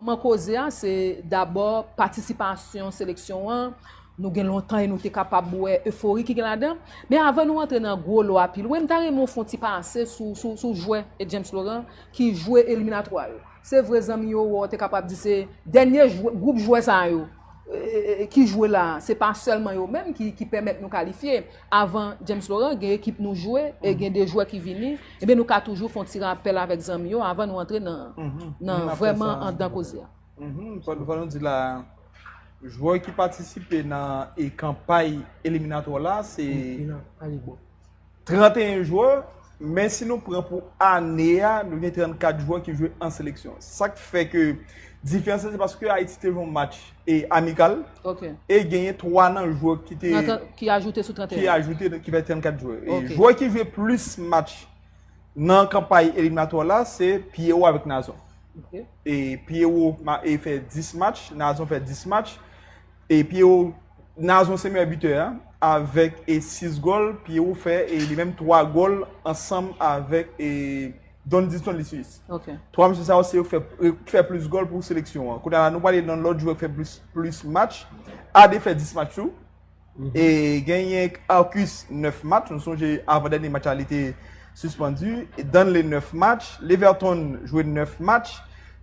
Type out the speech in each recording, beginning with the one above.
Kòman koze a se dabò patisipasyon seleksyon an, nou gen lontan e nou te kapab wè efori ki gen ladan. Men avan nou antre nan gwo lo a pi lwen, m ta renmen w fè yon ti pase sou jwè James Laurent ki jwe eliminatwa yo. Se vre zanmi yo wè w te kapab di se dènye jwè, gwoup jwè sa yo ki jwe la a, se pa sèlman yo menm ki pèmèt nou kalifye. Avan James Laurent gen ekip nou jwe e gen de jwè ki vini, ebyen nou ka toujou fè yon ti rapèl avèk zanmi yo avan nou antre nan vrèman anndan koze a. Fò nou di la a, jwè ki patisipe nan kanpay eliminatwa la se. 31 jwè, men si nou pran pou ane a, nou gen 34 jwè ki jwe an seleksyon. Sa k fè ke diferans la se paske Ayiti te jwe yon match amikal e genyen 3 nan jwè ki te... Ki ajoute sou 31. Ki ajoute, ki fè 34 jwè. Jwè ki jwe plis match nan kanpay eliminatwa la, se Pierrot avèk Nazon. Pierrot fè 10 match, Nazon fè 10 match. E Pierro Nazon se meyè bitè a avèk 6 gòl, Pierro fè li menm 3 gòl ansanm avèk Dondiston Lisius. 3 mesye sa yo se yo ki fè plis gòl pou seleksyon an. Kounye a la nou prale nan lòt jwè ki fè plis match. Ade fè 10 match tou. E genyen Arcus 9 match, nou sonje avan dènye match la li te sispandu. Danley 9 match, Leverton jwe 9 match.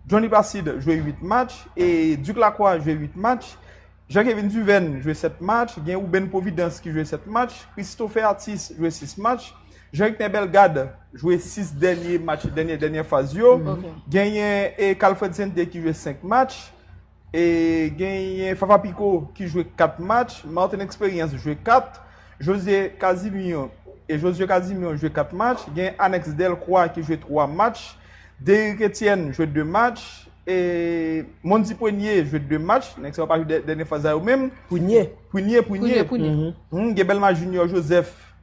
Johnny Placide jwe 8 match, e Duc Lacroix jwe 8 match, Jean Kevin Duven jwe 7 match, gen Ruben Providence ki jwe 7 match, Christopher Athis jwe 6 match, Jean Hector Bellegarde jwe 6 dènye match, dènye dènye faz yo, genyen Calfred Sainté ki jwe 5 match, E genyen Fafa Piko ki jwe 4 match, Martin Experience jwe 4, Josue Casimir e Josué Casimir jwe 4 match, genyen Anex Delcroix ki jwe 3 match, Derrick Etienne jwe 2 match, e Mondy Prenier jwe 2 match, nèg sa yo pa jwe dènye faz la yo menm. Prunier. Prunier, Prunier. Prunier, Prunier. Hum, Gebelma Junior Joseph.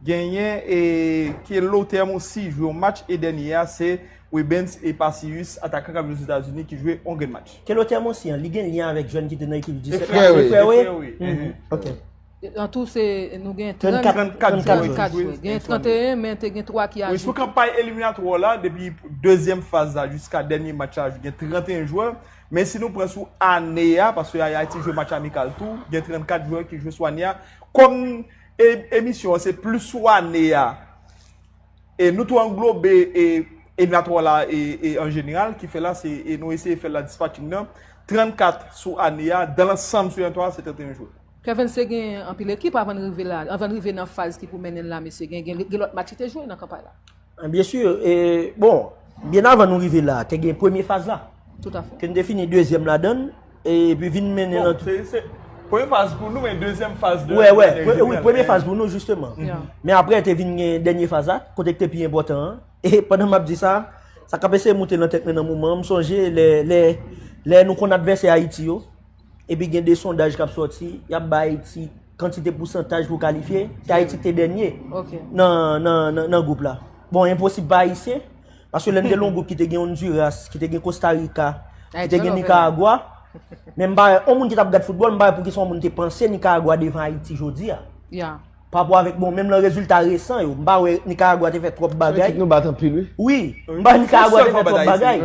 Genyen e ke lo tèm ou si jwe yon match e dènye a se Webens e pa Sius atakan kap jwe Zetazini ki jwe yon grenn match. Ke lo tèm ou si an li gen lyen avèk jèn ki te nan ekip U17 la? E frè ou e? Ok. An tou se nou gen 34 jwè. Genyen 31 men te gen 3 ki ajoute. Wi sou kanpay eliminatwa ou la depi dezyèm faz la jiska dènye match la gen 31 jwè. Men si nou pran sou ane a paske Ayiti jwe match amikal tou gen 34 jwè ki jwe sou ane a. Kòm E emisyon an se plis sou ane a. E nou tou anglobe e eliminatwa la e an jeneral ki fè la se e nou eseye fè la dispatching nan. 34 sou ane a, dan lansanm sou eliminatwa a se 31 jwè. Kevens te gen anpil ekip avan l rive la, avan l rive nan faz ki pou mennen l la mesye. Gen lòt match li te jwe nan kanpay la. Bien sûr, bon, bien avan nou rive la, te gen premye faz la. Tout a fè. Ke nou te fini dezyèm la dan, e pi vin mennen nan tout. Premye faz pou nou, men dezyèm faz de. Wè, wè, wè, premye faz pou nou, jisteman. Men apre te vin gen dènye faz la, kote ki te pi enpòtan an. E pandan m ap di sa, sa k ap eseye moute nan tèt mwen nan moman an, m sonje lè, lè, lè nou konn advèsè Ayiti yo, epi gen de sondaj k ap sòti, y ap bay ti. kantite pousantaj pou kalifye, te Ayiti ki te dènye nan gwoup la. Bon, enposib pa Ayisyen, paske lè n te lon gwoup ki te gen Honduras, ki te gen Costa Rica, ki te gen Nicaragua, men m pa wè, yon moun ki t ap gad foutbòl, m pa wè pou ki sa yon moun te panse Nicaragua devan Ayiti jodi a. Ya. Pa pou avèk, bon, menm lè rezilta resan yo, m pa wè Nicaragua te fè twòp bagay. Ekip nou bat anpil wi. Wi, m pa wè Nicaragua te fè twòp bagay.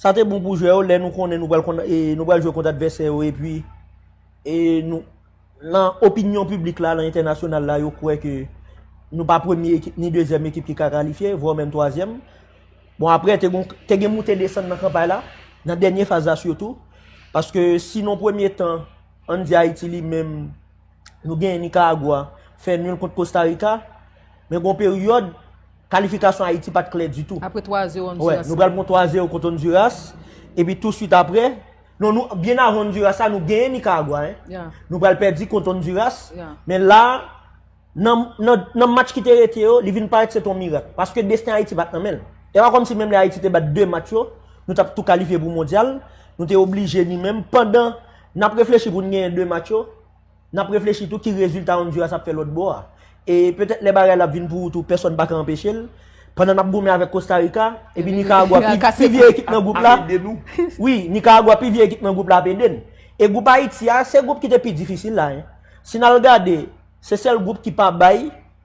Sa te bon pou jwè yo lè nou konnen nou pral kont e nou pral jwe kont advèsè yo epi e nou nan opinyon piblik la, nan entènasyonal la yo kwè ke nou pa premye ekip ni dezyèm ekip ki ka kalifye, vwa menm twazyèm. Bon aprè te gon te gen moute desann nan kanpay la, nan dènye faz la sitou. Paske si nan premye tan, ann di Ayiti li menm, Nou genyen Nicaragua fè nul kont Costa Rica, men gon peryòd kalifikasyon Ayiti pat klè ditou. Apre 3 a 0 Honduras. Wè, nou pral pran 3 a 0 kont Honduras, epi tou swit apre, non nou, byen avan Honduras la, nou genyen Nicaragua hein. Ya. Nou pral pèdi kont Honduras, men la, nan, nan, nan match ki te rete yo, li vin parèt se te yon mirak. Paske desten Ayiti pat nan men l. E pa kòmsi menm lè Ayiti te bat 2 match yo, nou tap tou kalifye pou mondyal, nou te oblije nou menm pandan. N ap reflechi pou n genyen 2 match yo, n ap reflechi tou ki rezilta Honduras ap fè lòtbò a. E petèt lè bagay la ap vin pou ou tou pèsòn pa ka anpeche l. Pandan n ap goumen avèk Kosta Rika, epi Nikaragwa pi vye ekip nan gwoup la, wi, Nikaragwa pi vye ekip nan gwoup la ap ede n. E gwoup Ayiti a, se gwoup ki te pi difisil la. Si n al gade, se sèl gwoup ki pa bay.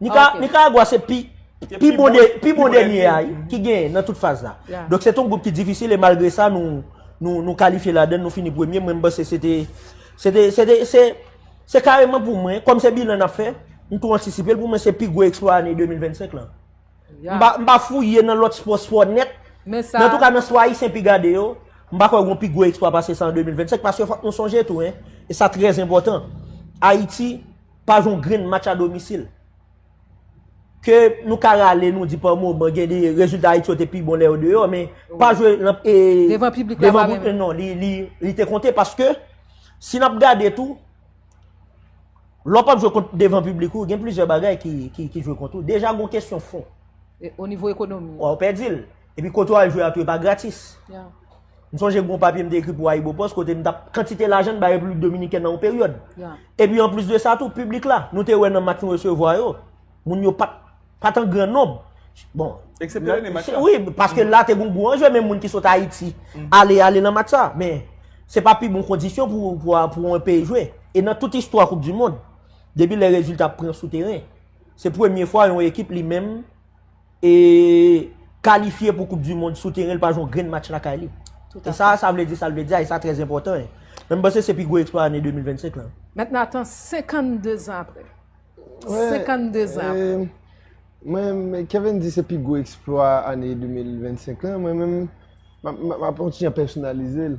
Nicaragua se pi bon dènye a ki gen nan tout faz la. Donk se ton goup ki difisil e malgre sa nou kalifye la den nou fini premye mwen mba se se te se te se te se te se kareman pou mwen kom se bilan nap fè m tou antisipe l pou mwen se pi gwo eksplwa ane 2025 lan. M pa fouye nan lot spò spò nèt men an tou ka nan spò ayisyen pi gade yo m pa kwè gon pi gwo eksplwa pase sa an 2025 paske fok nou sonje tou e sa trèzenpòtan Ayiti Pa jwe yon grenn match a domisil. Ke nou ka rale nou di pa moman gen de rezilta Ayiti yo te pi bon lè yo deyò men pa jwe nan e Devan piblik la pa menm. Devan piblik non li te konte paske si n ap gade tou lè w pa jwe kont devan piblik ou gen plizyè bagay ki jwe kont ou. Deja gen yon kesyon fon. Onivo ekonomi. Ou pèdi l. Epi kote w al jwe a tou e pa gratis. M sonje gen yon papye m te ekri pou Ayibopost kote m t ap kantite lajan n bay Repiblik Dominikèn nan yon peryòd. E pi anplis de sa tou, piblik la, nou te wè nan mak nou resevwa yo, moun yo pa t an gran nonb. Bon. Eksepte Rene Mak sa. Wi, paske la te gen yon gwo anje, menm moun ki sot Ayiti, ale ale nan mak sa. Men, se pa pi bon kondisyon pou yon peyi jwe. E nan tout istwa koup di mond, depi lè rezilta pran sou teren, se premye fwa yon ekip li menm. e kalifye pou koup di mond sou teren li pa jwe yon grenn match lakay li. E sa a sa vle di sa l vle di a e sa a trè enpòtan e. Men m panse se pi gwo eksplwa ane 2025 lan. Mèt Nathan 52 zan apre. 52 zan apre. Mwen men Kevin di se pi gwo eksplwa ane 2025 lan mwen men m ap kontinye pèsonalize l.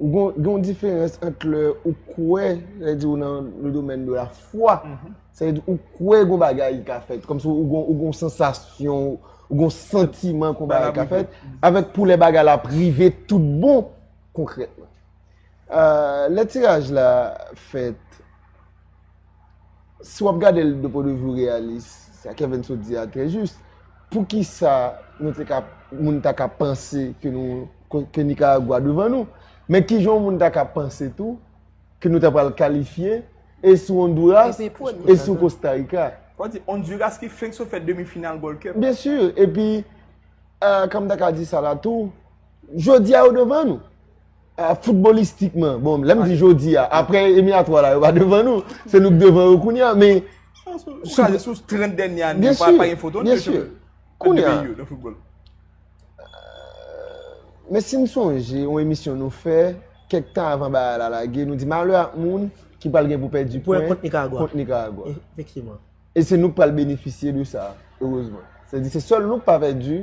Gon yon diferans ant lè ou kwè, lè di ou nan le domèn de la fwa, se di ou kwè yon bagay ka fèt, kòm si ou gon yon sensasyon, ou gon sentiman yon bagay ka fèt, avèk pou lè bagay la prive tout bon, konkrètman. Lè tiraj la fèt, si w ap gade l de pwen de vi reyalis, sa Kevin sot di a trè jis, pou ki sa nou te ka, moun ta ka panse ke nou, ke Nikaragwa devan nou? Men ki jan yon moun ta ka panse tou ke nou ta pral kalifye e sou Onduras e sou Kosta Rika? Ou di Onduras ki fenk sot fè demi final Gold Cup? Byen si, e pi, kan m ta ka di sa la tou, jodi a yo devan nou. Ah, footballistikman, bon, lèm di jodi a, apre emi a 3 la, yo pa devan nou, se nou k devan yo kouni a, men... Ou ka lè sou 30 dènyè an, yo pa yon foton, yo chè pou yon peyi yo, nan football. Men si m sonje, yon emisyon nou fè, kèk tan avan ba la lage, nou di malè ak moun ki pal gen pou pè di pwen kont Nicaragua. E se nou k pal benefisye de sa, heurezman. Se di se sol nou k pa pè di...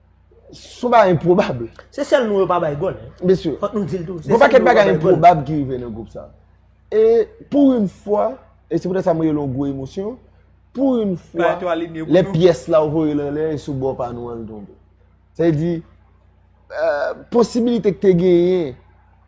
Son bagay enpwobab. Se sèl nou yo pa bay gòl. Mesye. Fòk nou dil tou. Gwo pakèt bagay enpwobab ki rive nan gwoup sa. E pou yon fwa, e se poutè sa mwen yon gwo emosyon, pou yon fwa, lè pyès la ou voye lan lè, e sou bò pa nou an l tonbe. Se di, posibilite ki te genyen,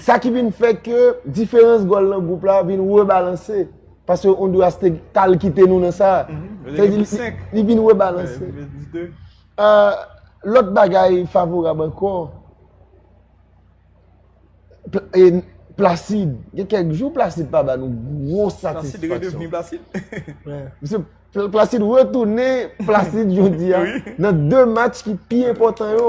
Sa ki vin fè ke diferans gòl nan gwoup la vin rebalanse. Pase Honduras te tal kite nou nan sa. Li vin rebalanse. Lòt bagay favorab ankò. Placide. Gen kèk jou Placide pa ba nou gwo satisfaksyon. Placide redevni Placide. Placide retounen Placide jodi a. Nan 2 match ki pi important yo.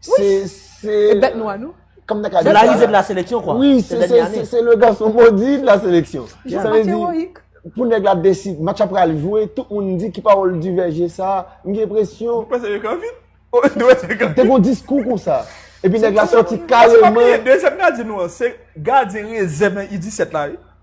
Se, se. E bèt nwa nou. Kòm nan ka di sa. Se la rive de la seleksyon kwa. Wi, se, se, se, se, se le gason modi de la seleksyon. Jan sa vle di, pou nèg la desi, match la pral jwe, tout moun di ki pawòl divèje sa, m gen enpresyon. Ou panse yo ka vin? Ou panse yo ka vin? Te gon diskou konsa. Epi nèg la soti kareman. Paske pa bliye, dezyèm gadyen nou an, se gadyen rezèv nan U17 la wi.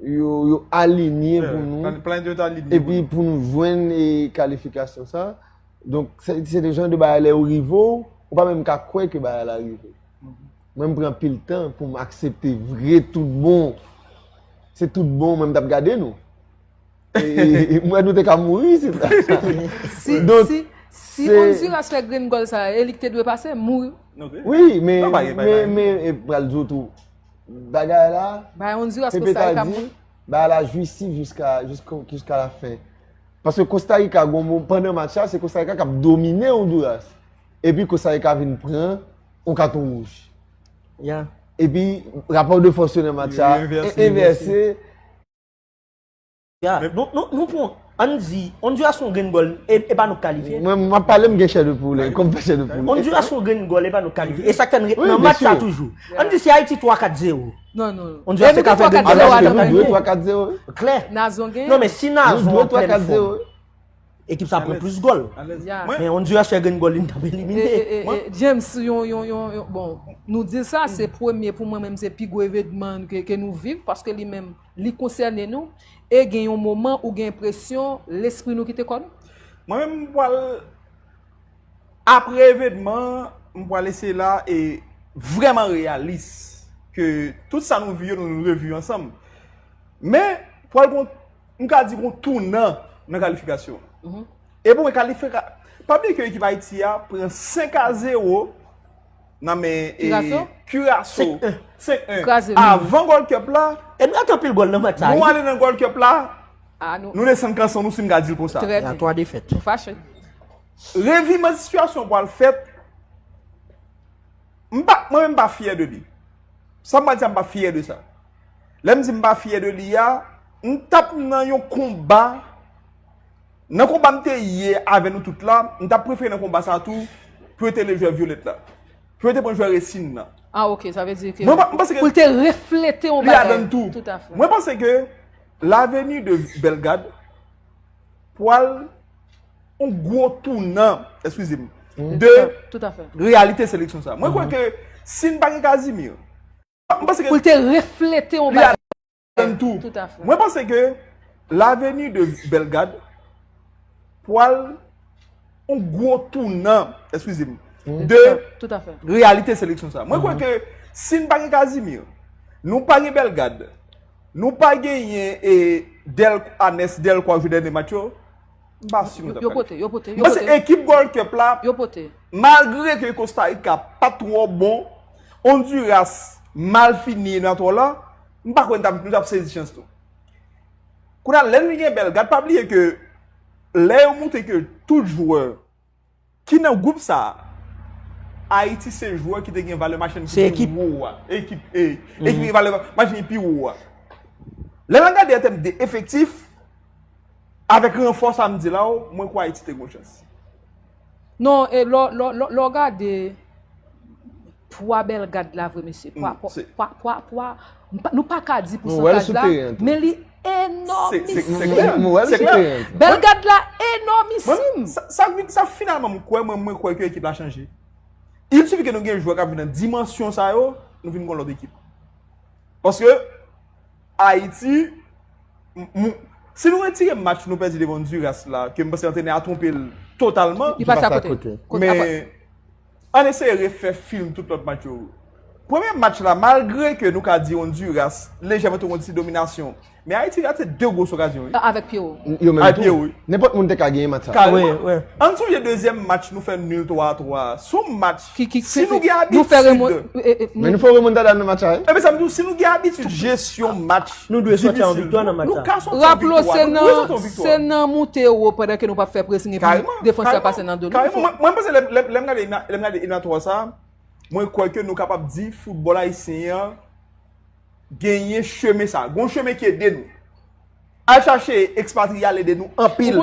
yo alinye pou nou, epi pou nou jwenn e kalifikasyon sa, donk se de jan de bagay lè yo rive ou, ou pa menm ka kwè ke bagay la rive. Mwen m pran pil tan pou m aksepte vre tout bon, se tout bon mwen m tap gade nou. E mwen nou te ka mouri si ta. Si, si, si Onduras fè grenn gòl sa, e li ki te dwe pase, mouri. Wi, men, men, men, e pral di ou tou. Bagay la, Bay on di Pepe ta di, bagay la jouissif jiska la fen. Paske Costa Rica, pandan match la, se Costa Rica k ap domine Honduras. E pi Costa Rica vin pran on katon wouj. Ya. E pi rapò de fòs yo nan match la, envèse. Gad, nou pran, an n di, Onduras pran grenn gòl, e pa nou k kalifye. Mwen, m ap pale, m gen chè de poul, kò m fè chè de poul. Onduras pran grenn gòl, e pa nou k kalifye. E sa k fè n ret nan match sa toujou. An n di si Ayiti 3, 4, 0. Non, non. Onduras te ka fè grenn gòl la, se nou k dwe 3, 4, 0. Klè. Nazon gen. Non, men si Nazon an plen fòm, ekip sa pran plis gòl. Men Onduras fè grenn gòl li, n t ap elimine. E, e, e, James, yon, yon, yon, bon, nou di sa, se premye pou mwen menm se pi gwo evenman ke nou viv, paske li menm. Li konsène nou, e gen yon moman ou gen enpresyon lespri nou kite kò nou? Mwen menm m pwal apre evenman m pwal eseye la e vreman reyalis ke tout sa nou vi yo nou revi yo ansanm men pwal gon m ka di gon tounan nan kalifikasyon e pou mwen kalifika pa byen ke ekip ayiti a pran 5 a 0 Nan men e Kiraso 5-1 Avan Gold Cup la Nou ale nan Gold Cup la Nou desann kanson nou si m ka di l konsa Reviman sitiyasyon pou al fèt M pa Mwen menm m pa fyè de li Sa m pa di a m pa fyè de sa Lè m di m pa fyè de li a M tap nan yon konba Nan konba m te ye avè nou tout la, m ta prefere nan konba sa tou pou yo te enlev jwè Violette la. Pou yo te pran jwè Recine nan. Ah ok, sa vle di ke pou l te reflete yon bagay. Li ladann tou. Tout a fè. Mwen panse ke l'avenue de Bellegarde pwal yon gwo tounan, eskize m, de Tout a fè. reyalite seleksyon sa. Mwen kwè ke si n pa gen Casimir, mwen panse ke Pou l te reflete yon bagay. Tann tou, mwen panse ke laveni de Bellegarde pwal ou gwo tou nan, eskize m, de realite seleksyon sa. Mwen kwen ke si n pa gen Casimir, nou pa gen Bellegarde, nou pa gen yen e Del, Anes, Del kwa jou dène match yo, m pa si mwen ta pwal. Yo pote, yo pote, yo pote. Mwen se ekip Gold Cup la, malgre ke Costa Rica pa twò bon, Honduras mal fini nan twò la, M pa kwè nou t ap sezi chans nou. Kounye a, lè n gen bèl gad, pa bliye ke lè yo montre ke tout jwè ki nan gwoup sa a, Ayiti se jwè ki te gen valè machin ki pi wo a. Se ekip. Ekip, ee. Ekip ki gen valè machin ki pi wo a. Lè n ap gade an tèm de efektif, avèk ranfò sa a m di la w, mwen kwè Ayiti te gen yon chans. Non, e lè w gade. Pwa bèl gad la vre mesye. Pwa, pwa, pwa, pwa, pwa. Nou pa ka di pou santaj la, men li enormissim. Se klè, mwen wè l sou teren an tou. Bèl gad la enormissim. Sa finalman mwen kwè, mwen kwè ke ekip la chanje. Il sifi ke nou gen jwè k ap vin nan dimansyon sa yo, nou vin kon lòt ekip. Paske, Ayiti, si nou retire match nou pèdi devan Ondiras la, ke mwen panse antrenè a twonpe l totalman. Li pase akote. Men, Ann eseye refè film tout lòt match yo. Premye match la malgre ke nou ka di Honduras lejèman te gen yon ti dominasyon, men Ayiti rate 2 gwos okazyon wi. Avèk pye ou. Yo menm tou. Nenpòt moun te ka genyen match sa. Kareman. Ann sonje dezyèm match nou fè nul 3 a 3 a. Se yon match si nou gen abitid. Men nou fè remontada nan match sa wi. Ebyen sa m di w si nou gen abitid jesyon match. Nou dwe soti an viktwa nan match sa. Raplo se nan moute wo pandan ke nou pap fè presing epi defanse a pase nan do nou. Mwen panse lèm gade elatwa sa, mwen kwè ke nou kapab di foutbol ayisyen an genyen chemen sa. Gon chemen ki ede nou. Al chache ekspatriye al ede nou anpil.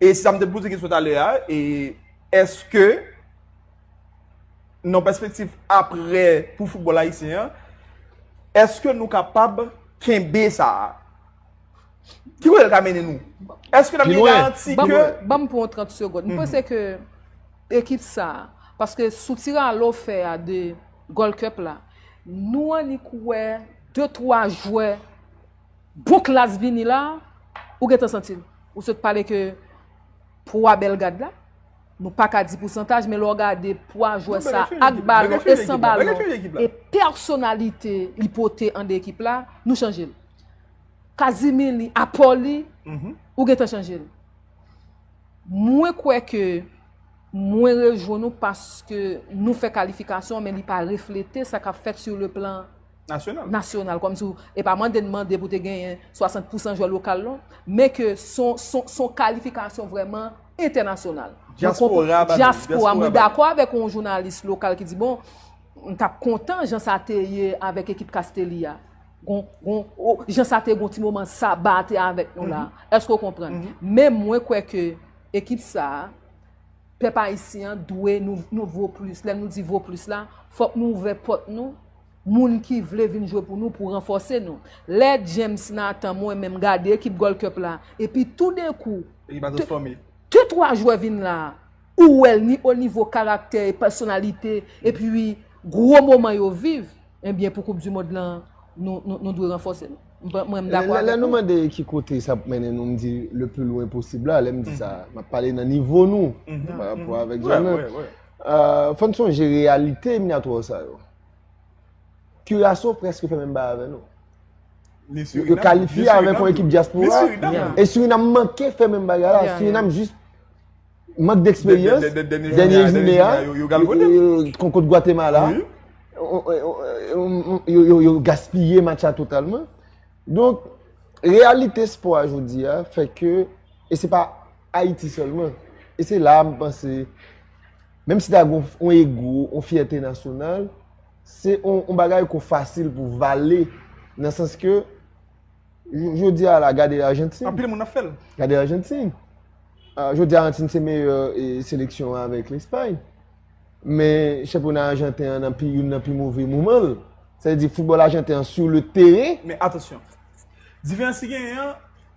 E sa m te poze kesyon talè a, e eske nan pèspektif apre pou foutbòl ayisyen an, eske nou kapab kenbe sa a? Ki kote l ka mennen nou? Eske nan mwen garanti ke... Ban m pou yon 30 segond. M panse ke ekip sa a, paske sou ti rale w fè a de Gold Cup la, nou annik wè 2-3 jwè, Bon klass vini la ou gentan santil ou sot pale ke pwa belgad la nou paka di pousantaj men lèw gade pwa jwè sa ak balon e san balon e pèsonalite li pote ande ekip la nou chanjel kazimi li apò li ou gentan chanjel mwen kwè ke mwen rejwenn ou paske nou fè kalifikasyon men li pa reflete sa kap fèt sou le plan nasyonal, kòm si e pa mande n mande pou te genyen 60 pousan jwè lokal non, men ke s on kalifikasyon vrèman entènasyonal. Dyaspora ba nou. Dyaspora, mwen dakò avèk on jounalis lokal ki di bon, m t ap kontan jan sa te ye avèk ekip Castelli a, gon, gon, jan sa te gon ti moman Saba a te avèk nou la, èske ou konprann? Men mwen kwè ke ekip sa a, pèp ayisyen an dwe nou vo plis, lè nou di vo plis la, fòk nou ouvè pòt nou moun ki vle vin jwe pou nou pou ranfòse nou. Lè James Nathan mwen menm gade ekip Gold Cup la epi toudenkou de twa jwè vin la ou wè l ni o nivo karaktè e pèsonalite epi gwo moman yo viv ebyen pou koup di mond la nou dwe ranfòse nou. Mwen menm dakò avèk ou. Lè nou mande ki kote sa pou mennen nou m di le plus loin possible la lè m di sa m ap pale nan nivo nou pa rapò avèk zòn nan. Fò n sonje reyalite eliminatwa sa yo. Kiraso preske fè menm bagay avè nou. Yo kalifye avèk yon ekip dyaspora. E Surinam manke fè menm bagay la. Surinam jis mank deksperyans. Dènye jounen a, kon kont Gwatemala, yo gaspiye match la totalman. Donk, reyalite espò a jodi a fè ke, e se pa, Ayiti sèlman. E se la a m panse, menm si ta gen yon ego, yon fyète nasyonal, se yon bagay ko fasil pou vale nan sans ke jodi a la gade Argentine. Anpil moun ap fè l. Gade Argentine. Jodi a Argentine se meyè seleksyon avèk Espagne. Men chanpyona Argentine an nan pi youn nan pi move moman l. Sa vle di foutbòl Argentine an sou le teren. Men atansyon. Diferans ki genyen an.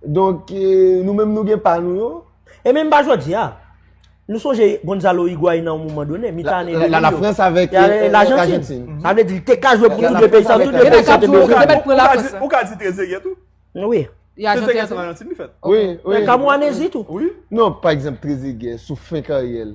Donk, nou menm nou gen pa nou yo. E menm pa jodi a. Nou sonje Gonzalo Higuain nan yon moman done, mitan ane 2000 yo. La France avèk l'Argentine. Sa vle di li te ka jwe pou tout 2 peyi sa. Tout 2 peyi sa te bejwe. Yo te met pou la France. Ou ka di Trezeguet tou. Oui. Trezeguet se nan Argentine li fèt. Oui. Kamou anezi tou. Oui. Non, pa ekzanp Trezeguet sou fen karyè l.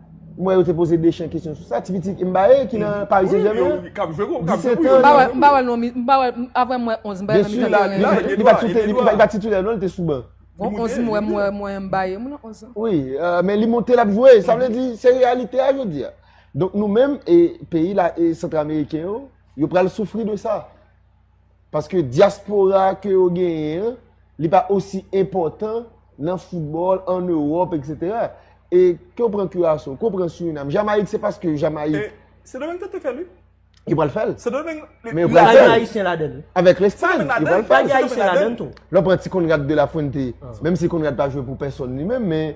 Mwen yo te poze Deschamps kesyon sou sa. Ti pitit Mbaye ki nan Paris Saint-Germain. Wi, kap jwe gwo, kap jwe pou yo. M pa wè, m pa wè l non. M pa wè l. Aprè m wè 11 Mbaye nan mitan teren an. Li pa titè, li pa titè non, li te sou ban. Bon 11 m wè, m wè, m wè Mbaye. M wè nan 11 lan. Wi, men li monte lap jwe. Sa vle di, se reyalite a jodi a. Donk nou menm, e peyi la, e Centre Americain yo, yo pral soufri de sa. Paske diaspora ke yo genyen an, li pa osi enpòtan nan football, an Europe, etc. E ke yo pran Curaçao, ke yo pran Suriname, Jamaïque se paske Jamaïque. E Sendomeng te te fèl wi. Yo pral fèl. Sendomeng. Men yo pral fèl. Pa gen Ayisyen ladan li. Avèk Lespagne, yo pral fèl. Pa gen Ayisyen ladan tou. Lè w pran ti Conrad de la Fuente, menm si Conrad pa jwe pou pèsòn li menm, men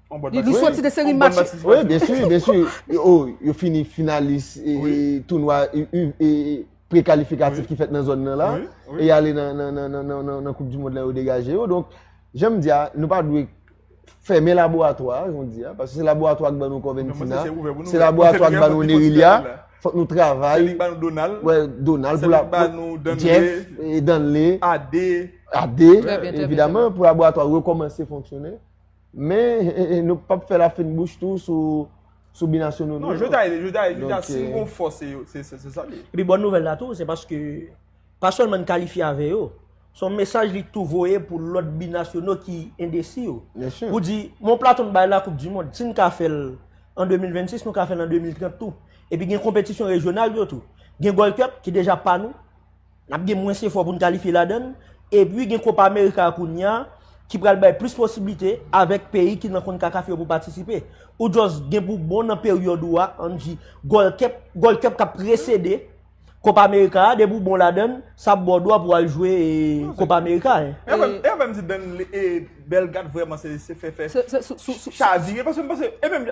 Nou soti de seri match. Wi, byensi, byensi. Yo fini finalis tounwa prekalifikatif ki fèt nan zòn nan la. E y ale nan koup di mond la yo degaje yo. Donk, jan m di a, nou pa dwe fèmen laboratwa a, jan m di a. Paske se laboratwa ki ban nou Kòventina. Se laboratwa ki ban nou Nerilia. Fòk nou travay. Se li ki ban nou Donald. Wè, Donald. Se li ki ban nou Danley. Jeff, Danley. Ade. Ade. Trè byen, trè byen. Evidaman, pou laboratwa a rekòmanse fonksyone. Men nou pap fè la fin bouch tou sou binasyonal nou. Non, je ta, je ta, je ta, si yon fò se yo, se sa li. Epi bon nouvèl la tou, se paske, pa sèlman n kalifye avè yo, se yon mesaj li tou voye pou lòt binasyonal ki endesi yo. Byen si. Pou di, yon plato n bay la koup di mond, si n ka fè l an 2026, nou ka fè l an 2030 tou. Epi gen konpetisyon rejyonal yo tou. Gen Gold Cup ki deja pa nou. N ap gen mwens efò pou n kalifye ladan l, epi gen Kopa Amerika kounya ki pral bay plis posiblite avèk peyi ki nan Concacaf yo pou patisipe. Ou just gen pou bon nan peryòd ou a, ann di Gold Cup, Gold Cup k ap presede Kopa Amerika a, depi ou bon ladan l, sa ap ba w dwa pou w al jwe Kopa Amerika a. E menm, e menm m di Bèl Gad vrèman se fè fè Xavi, paske m panse, e menm.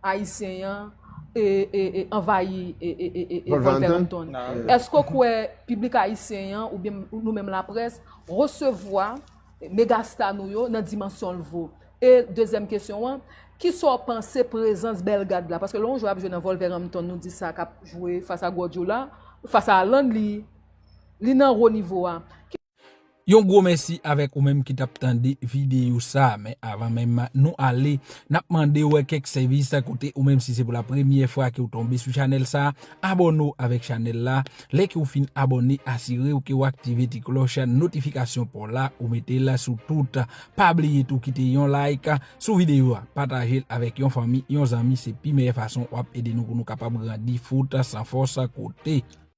Ayisyen yan anvayi Wolverhampton. Eske w kwè piblik Ayisyen yan oubyen nou menm laprès resevwa megasta nou yo nan dimansyon l vo? E dezyèm kesyon an, kisa w panse prezans Bellegarde la? Paske lè yon jwè ap jwe nan Wolverhampton nou di sa kap jwe fas a Guardiola, fas a Haaland li nan wo nivo a. Yon gwo mèsi avèk ou menm ki tap tande videyo sa, men avan menm nou ale nap mandew kèk sèvis kote ou menm si se pou la premyè fwa ke ou tonbe sou chanèl sa, abòne w avèk chanèl la, lè ke ou fin abòne asirew ke ou aktive ti klòch notifikasyon paw la ou metel sou tout, pa bliye tou kite yon like sou videyo a, patajel avèk yon fanmi, yon zanmi se pi meyè fason wap ede nou pou nou kapab grandi fout san fòs kote.